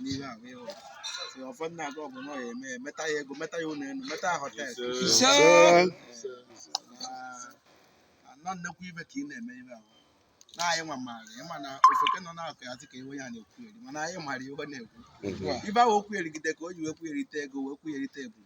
n'ihe ahụ ịhụ si ọfọ na-aga ọgụ na ọ ya-eme meta ya ego meta ya ụlọ elu meta ya họtel Ise. anọ nnekwu ive ka ị na-eme ive ahụ na anyị nwa maara ị ma na ofeke nọ na-akọ ya dị ka iwe ya na-ekwugheri mana anyị mara ive ọ na-ekwu ive ahụ o kwugherigide ka o ji wee kwugherite ego wee kwugherite ebube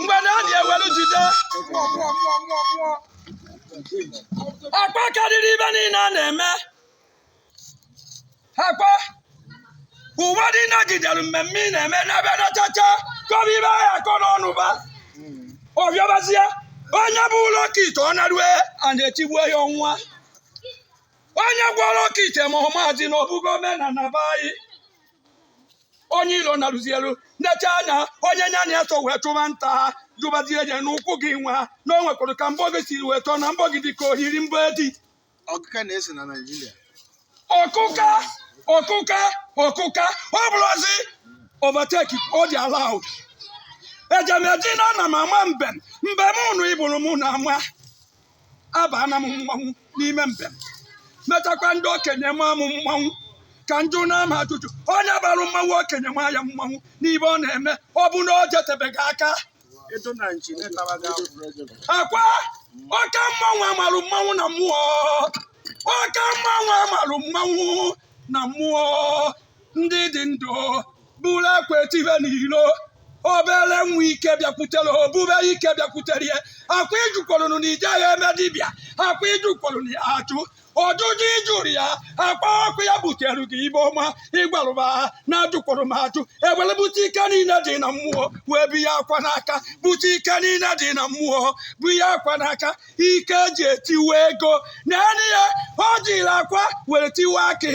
mgbe na adị e welu jide akwa karịrị ive niile a na-eme akpa ụwa dị nagidere mmemme ị na-eme n'ebe nachacha kọba ive ahụ akọ n'ọnụ ba ọ bịabazie onye bulu okite ọ narue a na-etigbuo ya ọnwa onye gwọrọ okite ma ọ maazị na ọ bụgo omenala be anyị onye ilo na-arụzi elu na-eche anya onye nya na ya so wee chụba nta ha jụbazie ya n'ụkwụ gị nwa na o nwekwara ka mbọ gị siri wee chọọ na mbọ gị dị ka o yiri mbọ edi ọkụka na-esi na naijiria ọkụka ọkụka ọkụka ọ bụrụzi overtake ọ dị allowed eje m eji na ana m ama mbem mbem unu ịbụrụ mụ na-ama abaana m mmanwụ n'ime mbem mechakwa ndị okenye maa m mmanwụ ka njụ na-ama ajụjụ onye bara mmanwụ okenye maa ya mmanwụ n'ive ọ na-eme ọ bụ na o jetebeghị aka akwa ọka mmanwụ a marụ mmanwụ na mmụọ ọka mmanwụ a marụ mmanwụ na mmụọ ndị dị ndụ bụrụ akwa etive n'ilo obere nwa ike bịakwutere ebube ike bịakwutere ya akwa ị jụkwarụnụ na i jeghị eme dibịa akwa ị jụkwarụ na ya ajụ ọjụjụ ị jụrụ ya akpa ọkụ ya butere gị ive ọma ị gwarụ m ha na ajụkwụrụ m ajụ e were bute ike niile dị na mmụọ wee bunye akwa n'aka bute ike niile dị na mmụọ bunye akwa n'aka ike e ji etiwe ego na enyi ya o jiri akwa were tiwe akị